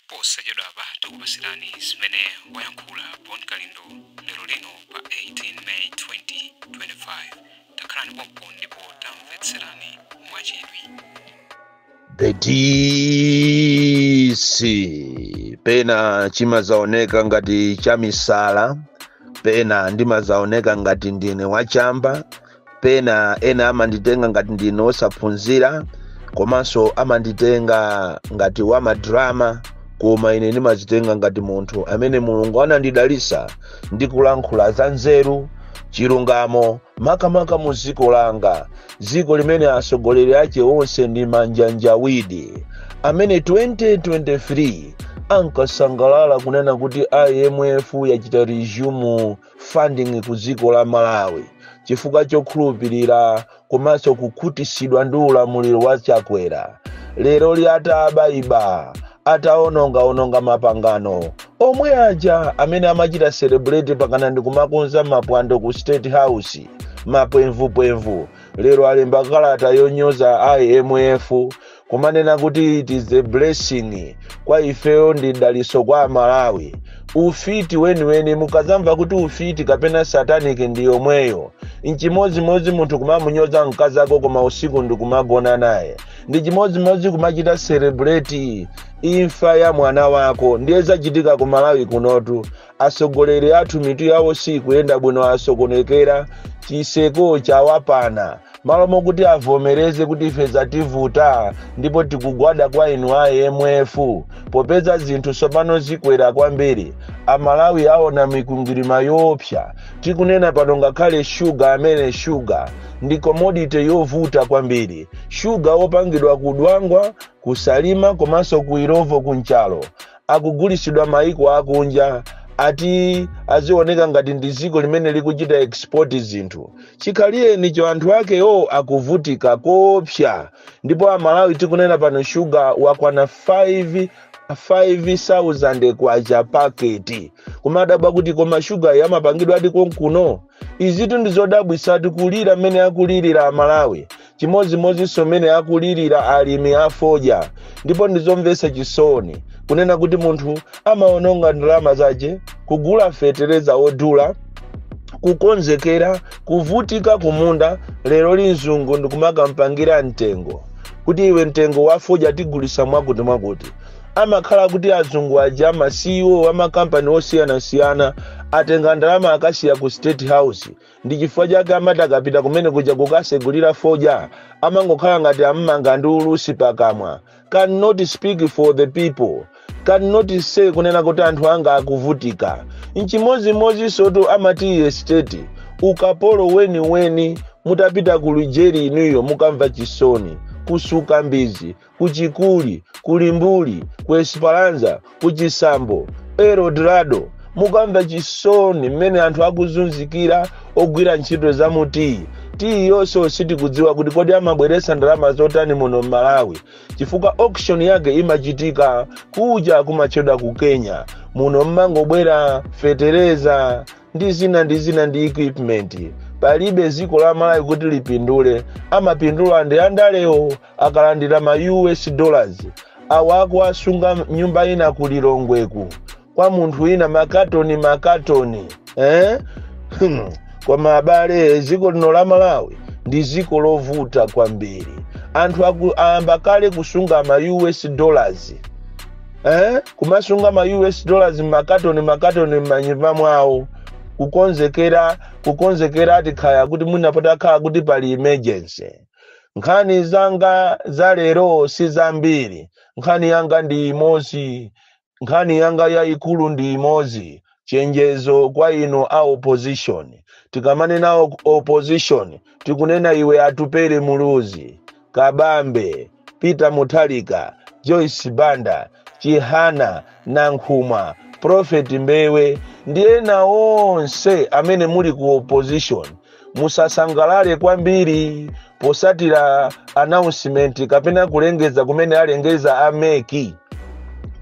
posachedwapa tikupasirani zimene wayankhula bon kalindo lero lino pa 18 may 2025 takhalani pompo ndipo tamvetserani mwachidwi The DC pena chimazaoneka ngati chamisala pena ndimazaoneka ngati ndine wachamba pena ena amanditenga ngati ndine osaphunzira komanso amanditenga ngati wamadrama koma ine ndimazitenga ngati munthu amene mulungu anandidalisa ndi kulankhula za nzeru chilungamo makamaka mu dziko langa dziko limene atsogoleri ake onse ndi manjanjawidi amene 2023 ankasangalala kunena kuti imf yachita resume funding ku dziko la malawi chifukwa chokhulupirira komanso kukhutitsidwa ndi ulamuliro wa chakwera leroli ataabaiba ataonongaononga mapangano omwe aja amene amachita celebrate pakana ndi kumakonza mapwando ku state house mapwemvupwemvu lero alemba kalata yonyoza imf kumanena kuti it is a blessing kwa ifeyo ndi daliso kwa amalawi ufiti weniweni mukazamva kuti ufiti kapena satanic ndi yomweyo nchimodzimodzi munthu kumamunyoza mkazi ako koma usiku ndi kumagona naye ndi chimodzimodzi kumachita celebrate imfa ya mwana wako ndiye zachitika ku malawi kunotu atsogoleri athu mitu yawo sikuyenda bwino asokonekera chiseko chawapana malo mokuti avomereze kuti ife zativuta ndipo tikugwada kwa inu a imf popeza zinthu tsopano zikwera kwambiri amalawi aona mikwingwirima yoopsa tikunena pano ngakhale shuga amene shuga ndi commodity yovuta kwambiri shuga wopangidwa ku dwangwa ku salima komanso ku illovo ku nchalo akugulisidwa maiko akunja ati azioneka ngati ndi dziko limene likuchita export zinthu chikhalirenicho anthu akewo akuvutika koopsa ndipo amalawi tikunena pano shuga wakwana 5000 kwacha paketi kumadabwa kuti koma shuga amapangidwadi konkuno izitu ndizodabwisatu kulira mmene akulirira amalawi chimodzimodzinso mmene akulirira alimi afodya ndipo ndizomvesa chisoni kunena kuti munthu amaononga ndalama zace kugula fetereza odula kukonzekera kuvutika kumunda leroli mzungu ndikumakampangira mtengo kuti iwe mtengo wafodya tigulisa mwakuti mwakuti amakhala kuti azungu aja ma CEO a makampani osiyanasiyana atenga ndalama akasiya ku state house Ndi chifukwa chake amati akapita kumene kuja kukasegulira fodya amangokhala ngati ammanga ndi ulusi pakamwa. Can not speak for the people. Can not say kunena kuti anthu anga akuvutika. Nchimodzimodzinsotu a ma tea estate ukapolo weniweni mutapita ku Lujeri inuyo mukamva chisoni. kusuka mbizi ku chikuli ku limbuli ku esperanza ku chisambo eldorado mukamva chisoni mmene anthu akuzunzikira ogwira ntchito za mu tiyi tiyi iyonso sitikudziwa kuti kodi imabweretsa ndalama zotani muno m'malawi chifukwa auction yake imachitika kuja kumatchedwa ku kenya muno mumangobwera fetereza ndi zina ndi zina ndi equipment palibe dziko la malawi kuti lipindule amapindula ndi andalewo akalandira ma us dollars awo akuwasunga nyumba ina ku lilongweku kwa munthu wina makatoni makatoni eh? Hmm. koma abale dziko lino la malawi ndi dziko lovuta kwambiri anthu aku- ayamba kale kusunga ma us dollars eh? kumasunga ma us dollars makatoni makatoni m'manyumba mwawo kukonzekera kukonzekera ati kaya kuti mwina patakhala kuti pali emergency nkhani zanga za lero si zambiri nkhani yanga ndi imodzi nkhani yanga yayikulu ndi imodzi chenjezo kwa inu a opposition tikamanena o- opposition tikunena iwe atupele muluzi kabambe peter mutharika joyce banda chihana nankhumwa prophet mbewe ndi ena onse amene muli ku opposition musasangalale kwambiri potsatira announcement kapena kulengeza kumene alengeza a mec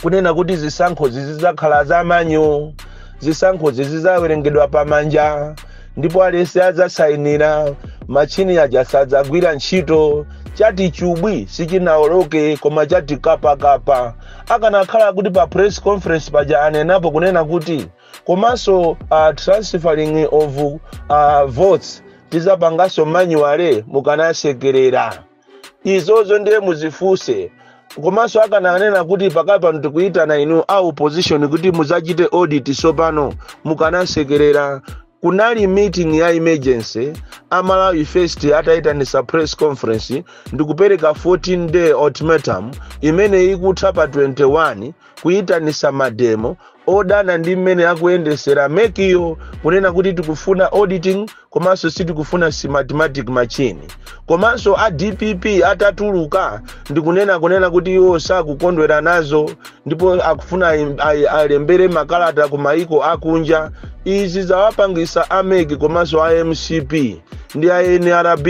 kunena kuti zisankhozi zidzakhala za manual zisankhozi zidzawerengedwa pamanja ndipo aliyense adzasayinira machini aja sadzagwira ntchito chati chubwi sichinaoloke koma chati kapakapa akanakhala kuti pa press conference paja anenapo kunena kuti komanso uh, transferring of uh, votes tizapanganso manually mukanasekerera izozo ndiye muzifunse komanso akananena kuti pakali pano tikuyitana inu a opposition kuti muzachite audit sopano mukanasekerera kunali meeting ya emergency a malawi first atayitanisa press conference ndikupereka 14 day ultimatum imene ikutha pa 21 kuyitanisa mademo odana ndi mmene akuyendesera mec-yo kunena kuti tikufuna auditing komanso sitikufuna smartmatic machine komanso a dpp atatuluka ndikunena kunena kuti iwo sakukondwera nazo ndipo akufuna ayi- ayi- alembere makalata ku maiko akunja izi zawapangisa a mec komanso a mcp ndi a nrb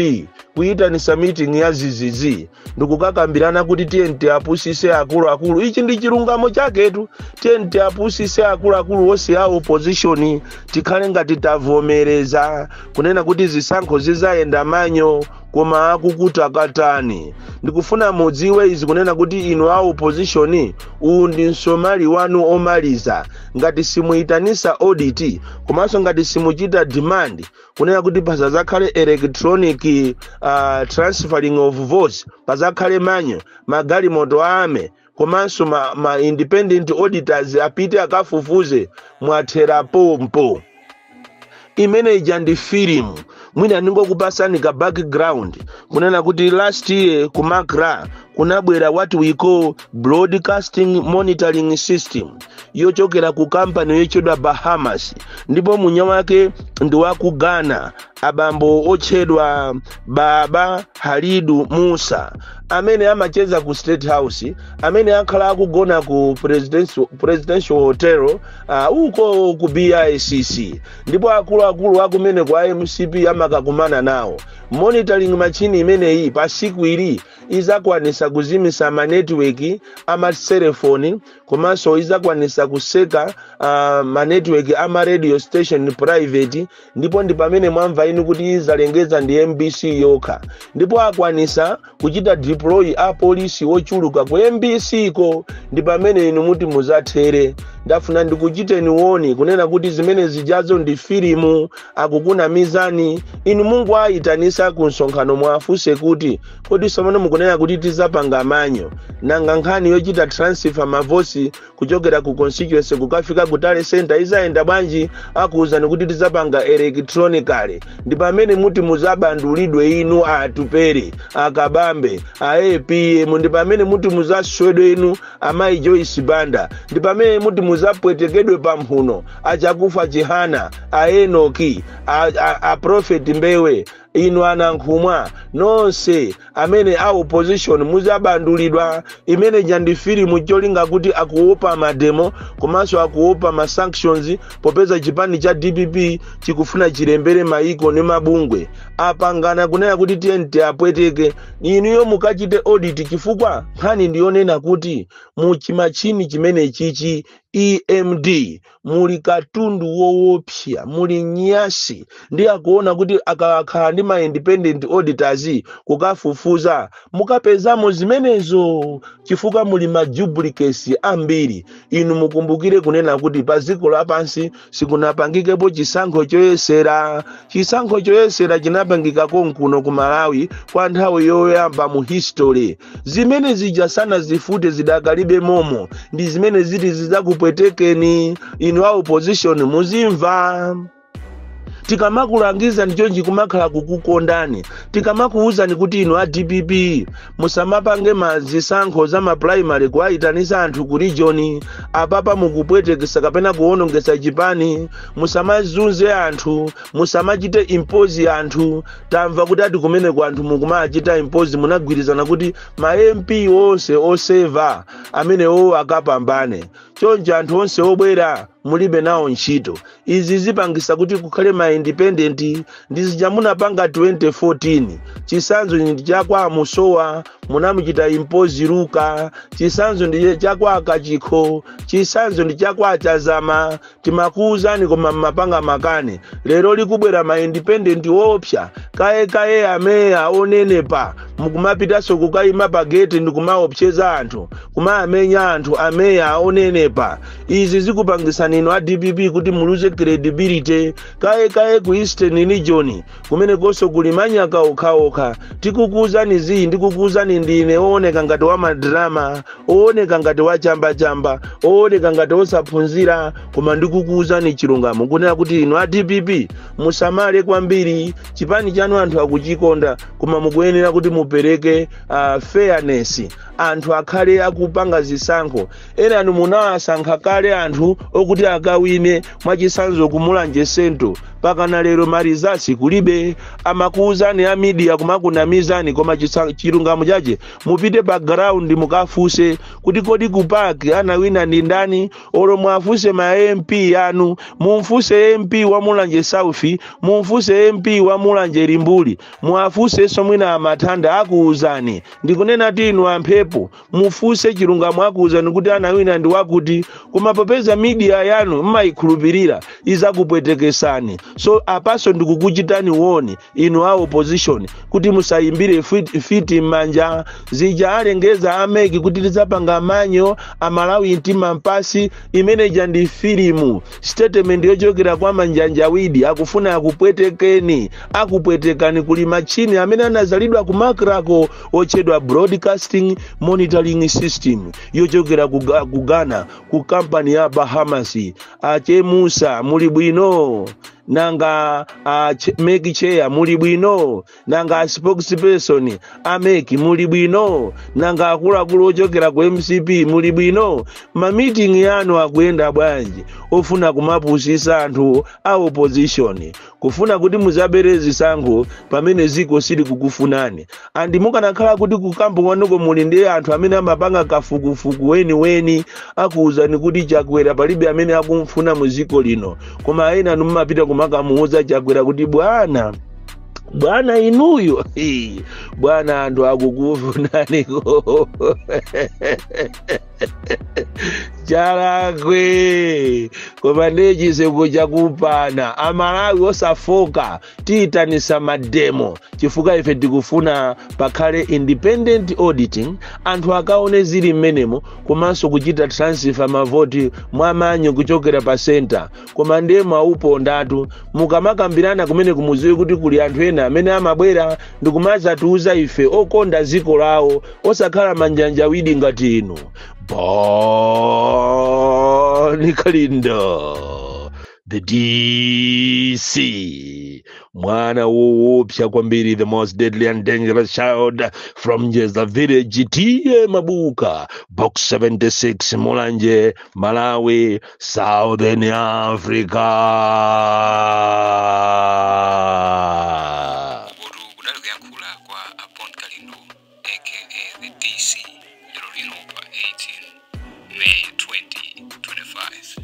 kuyitanisa miting'i ya zizizi ndikukakambirana kuti tiyeni tiapusise akuluakulu ichi ndi chilungamo chaketu tiyeni tiapusise akuluakulu onse a opozishoni tikhale ngati tavomereza kunena kuti zisankho zizayenda manual koma akuchita katani ndikufuna mudziwe izi kunena kuti inu a opposition uwu ndi msomali wanu omaliza ngati simuyitanisa audit komanso ngati simuchita demand kunena kuti pasazakhale electronic uh, transferring of votes pazakhale manual magalimoto a mec komanso ma, ma independent auditors apite akafufuze mwathera pompo imene ija ndi filimu mwina ndingokupasani ka background kunena kuti last year ku macra kunabwera what we call broadcasting monitoring system yochokera ku kampani yochedwa bahamas ndipo mwini wake ndi wa ku ghana abambo otchedwa baba halidu musa amene amacheza ku state house amene akhala akugona ku presidential, presidential hotel uh, uko ku bicc ndipo akuluakulu akumeneku a mcp amakakumana nawo monitoring machine imeneyi pa siku ili izakwanisa kuzimisa manetiweki amaselefoni komanso izakwanisa kuseka uh, manetiweki ama radio station private ndipo ndi pamene mwamva inu kuti izalengeza ndi mbc yokha ndipo akwanisa kuchita deploy apolisi ochuluka ku mbc ko ndi pamene inu muti muzathere ndafuna ndikuchiteni warn kunena kuti zimene zijazo ndi filimu akukunamizani inu muwayitanise ku msonkhano muwafunse kuti kodi somano mukunena kuti tizapanga manual nanga nkhani yochita transfer ma votes kuchokera ku constituency kukafika ku tally center izayenda bwanji akuwuzani kuti tizapanga electronically ndi pamene muti muzabandulidwe inu atupele a kabambe a apm ndi pamene muti muzaswedwe inu amayi joyce banda ndi pamene muti muzapwetekedwe pamphuno a chakufwa chihana a enoki a, a, a prophet mbewe inu a nankhumwa nonse amene a opposition muzabandulidwa imene ija ndi filimu cholinga kuti akuopa mademo komanso akuopa ma sanctions popeza chipani cha dpp chikufuna chilembere maiko ndi mabungwe apangana kunena kuti tiyeni tiapweteke inuyo mukachite audit chifukwa nkhani ndiyonena kuti mu chimachini chimene chichi emd muli katundu woopsa muli nyasi ndiye akuona kuti akakhala ndi ma independent auditors kukafufuza mukapezamo zimenezo chifukwa muli ma duplicates ambiri inu mukumbukire kunena kuti pa dziko lapansi sikunapangikepo chisankho choyesera chisankho choyesera chinapangika konkuno ku malawi kwa nthawi yoyamba mu history zimene zija sanazifute zidakalibe momo ndi zimene ziti zidzakupwetekeni inu a opposition muzimva tikamakulangizani chonchi kumakhala kukukondani tikamakuwuzani kuti inu a dpp musamapange mazisankho za mapulaimali kuwayitanisa anthu ku region apapa mukupwetekesa kapena kuwonongesa chipani musamazunze anthu musamachite impozi anthu tamva kuti ati kumeneko anthu mukumachita impozi munagwirizana kuti ma mp onse oseva amenewa akapambane choncho anthu onse obwera mulibe nawo ntchito izi zipangisa kuti kukhale ma independent ndi zija munapanga 2014 chisanzo ndi chakwa musowa munamuchita impozi luka chisanzo ndi chakwa kachikho chisanzo ndi chakwa chazama timakuuzani koma mmapanga makani lero likubwera ma independent oopsa kaye kaye ameya onenepa mukumapitanso kukayima pa geti ndikumaopseza anthu kumawamenya anthu ameya onenepa izi zikupangisani inu a dpp kuti muluze credibility kaye kaye ku eastern region kumenekonso kuli manyaka okhaokha tikukuuzani izi ndikukuuzani ndine ooneka ngati wamadrama ooneka ngati wachambachamba ooneka ngati osaphunzira koma ndikukuuzani chilungamo kunena kuti inu a dpp musamale kwambiri chipani chanu anthu akuchikonda koma mukuyenera kuti mupereke fairness anthu akhale akupanga zisankho enanu munawasankha kale anthu okuti akawine mwachisanzo kumulanje sento pakana lero marizati kulibe amakuuzani a midiya kumakunamizani koma chilungamo chache mupite pa ground mukafuse kuti kodi kupaki anawina ndi ndani olo mwafuse ma mp anu mumfuse mp wa mulanje south mumfuse mp wa mulanje limbuli muwafusenso mwina amathanda akuuzani ndikunenatu inu amphepo mufunse chilungamo akuwuzani kuti anawina ndi wakuti koma popeza midiya yanu mmayikhulupirira izakupwetekesani so apanso ndikukuchitani woni inu a opposition kuti musayimbire mfiti m'manja zija alengeza ameki kuti tidzapanga manyo amalawi mtima mpansi imeneja ndi filimu statement yochokera kwa manjanjawidi akufuna akupwetekeni akupwetekani kuli machini amene anazalidwa kumakrako otchedwa broadcasting monitoring system yochokera ku Ga- ku ghana ku kampani ya bahamas achemusa muli bwino nanga a che- mec chair muli bwino nanga a spokesperson a mec muli bwino nanga akuluakulu ochokera ku mcp muli bwino mamitingi yanu akuyenda bwanji ofuna kumapusisa anthu a opposition kufuna kuti muzabere zisankho pamene ziko sili kukufunani andi mukanakhala kuti kukambo kwanuko muli ndi anthu amene amapanga kafukufuku weniweni akuwuzani kuti chakwera palibe amene akumfuna mu ziko lino koma ena anu mumapita kumakamuwuza chakwera kuti bwana bwana inuyo Hii, bwana anthu akukufunaniko chalakwe koma ndiye chiseko chakupana amalawi osafoka tiyitanisa mademo chifukwa ife tikufuna pakhale independent auditing anthu akaone zili mmenemo komanso kuchita transfer mavoti mwa manual kuchokera pa center koma ndiye mwawupondatu mukamakambirana kumeneko muziwe kuti kuli anthu ena amene amabwera ndikumazatiuza ife okonda dziko lawo osakhala manjanjawidi ngati inu boni kalindo the dc mwana woopsa kwambiri the most deadly and dangerous child from njeza village ta mabuka box 76 mulanje malawi Southern Africa. Ukotu kudali kuyankhula kwa a Bon Kalindo aka the DC lero lino pa 18 May 2025.